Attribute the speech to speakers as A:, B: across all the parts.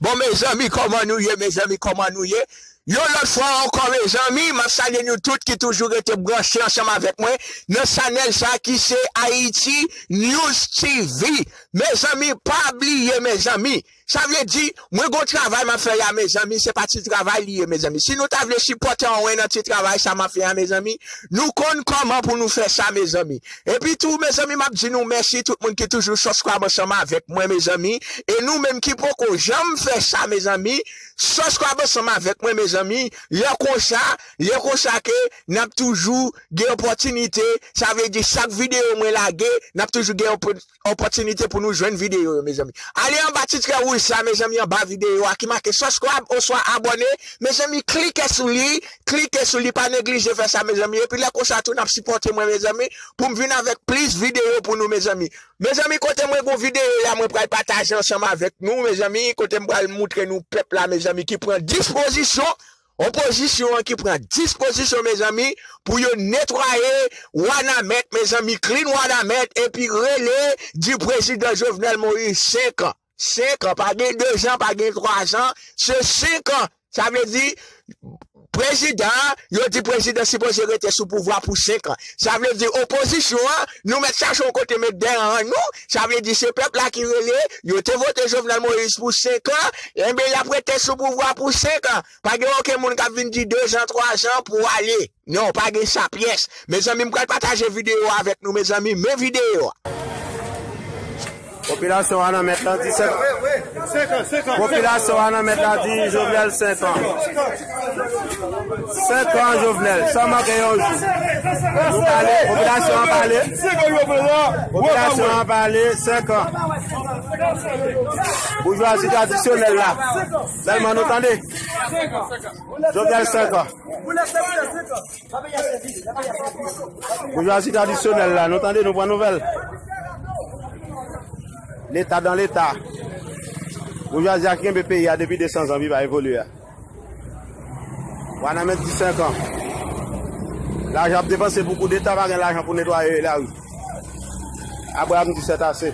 A: Bon mezanmi kòman nou ye mezanmi kòman nou ye yon lòt fwa ankò mezanmi map salye nou tout ki toujou rete branche ansanm avèk mwen nan chanèl sa ki se ayiti news TV mezanmi pa bliye mezanmi sa vle di mwen gon travay map fè ya mezanmi se pa ti travay li ye mezanmi si nou ta vle sipòte anwen nan ti travay sa map fè ya mezanmi nou konn kòman pou nou fè sa mezanmi Epi tou mezanmi map di nou mèsi tout moun ki toujou subscribe ansanm avèk mwen mezanmi e nou menm ki poko janm fè sa mezanmi subscribe ansanm avèk mwen mezanmi lè konsa lè konsa ke nap toujou gen opòtinite sa vle di chak video mwen lage nap toujou gen opòtinite pou nou jwenn videyo yo mezanmi ale anba titre wouj sa mezanmi anba videyo a ki make subscribe oswa abone mezanmi klike sou li klike sou li pa neglije fè sa mezanmi epi lè konsa tou nap sipòte mwen mezanmi poum vin avèk plis videyo pou nou mezanmi mezanmi kote mwen gon videyo ya mwen pral pataje ansanm avèk nou mezanmi kote m pral moutre nou pèp la mezanmi ki pran dispozisyon Opozisyon an ki pran dispozisyon mezanmi pou yo netwaye wanament mezanmi clean wanament epi rele di prezidan jovenel moïse 5 ans 5 ans pa gen 2 ans pa gen 3 ans se 5 ans sa vle di prezidan yo di prezidan sipoze rete sou pouvwa pou 5 ans sa vle di opozisyon an nou mèt chache yon kote met dèyè nou sa vle di se pèp la ki rele, yo te vote Jovenel Moïse pou 5 an, enben y ap rete sou pouvwa pou 5 an. Pa gen oken moun k ap vin di 2 zan, 3 zan pou w ale. Non, pa gen sa pyès. Mezanmi m pral pataje videyo avèk nou mezanmi, men videyo a.
B: Popilasyon a nan mèt la di 5 an. Popilasyon a nan mèt la di Jovenel 5 an. 5 ans Jovenel san manke yon jou. Nou pale, popilasyon an pale. Popilasyon an pale 5 ans. Boujwazi tradisyonel la. Selman nou tande. Jovenel 5 ans. Boujwazi tradisyonel la, nou tande nou pran nouvel. Leta dan leta. Boujwazi a kenbe peyi a depi 200 ans li pa evolye a. Wanament di 5 an. Lajan ap depanse pou kou deta pa gen lajan pou netwaye la ri. Abraham di set ase.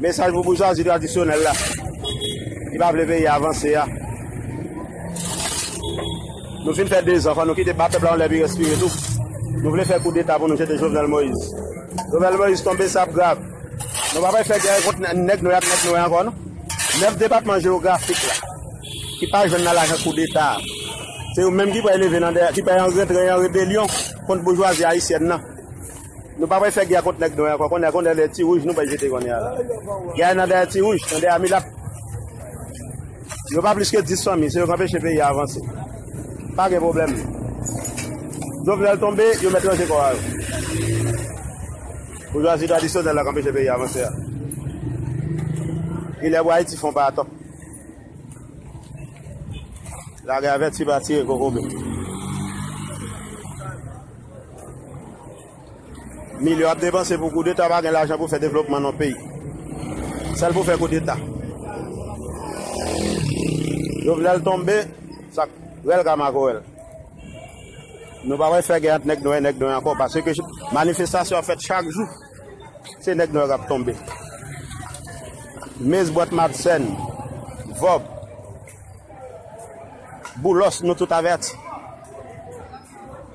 B: Mesaj pou boujwazi tradisyonèl la ki pa vle peyi a avanse a. Nou fin fè 2 zan, fò nou kite ba pèp la yon lè pi respire tou. Nou vle fè kou deta pou nou jete Jovenel Moïse. Jovenel Moïse tonbe sa ap grav. Nou pa bay fè gè kont nèg nou ak nèg nou ankò non. 9 depatman jewografik la ki pa jwenn nan lajan kou deta a. Se yo menm ki pral leve nan dè, ki pral rantre an rebelyon kont boujwazi ayisyèn nan. Nou pa pral fè gè a kont nèg nwè ankò konnè a konnè lè ti wouj nou bay jete konnè a la gè a nan dèyè ti wouj nan dèyè milat yo pa plis ke 10 fanmi se yo k anpeche peyi a avanse pa gen pwoblèm Jovenel tonbe yo mèt ranje kò a yo boujwazi tradisyonèl la k anpeche peyi a avanse a gilè pou Ayiti fon pa atò lage avèti pa tire kokobe. Milyon ap depanse pou koudeta pa gen lajan pou fè devlopman non peyi. Sèl pou fè koudeta. Jovenel tonbe, sak rèl ka makorèl. Nou pa wè fè gen ant nèg nwè nèg nwè ankò pase ke manifestasyon ap fèt chak jou. Se nèg nwè kap tonbe. Mez bwat mapsèn, vòb, boulos nou tout avèti.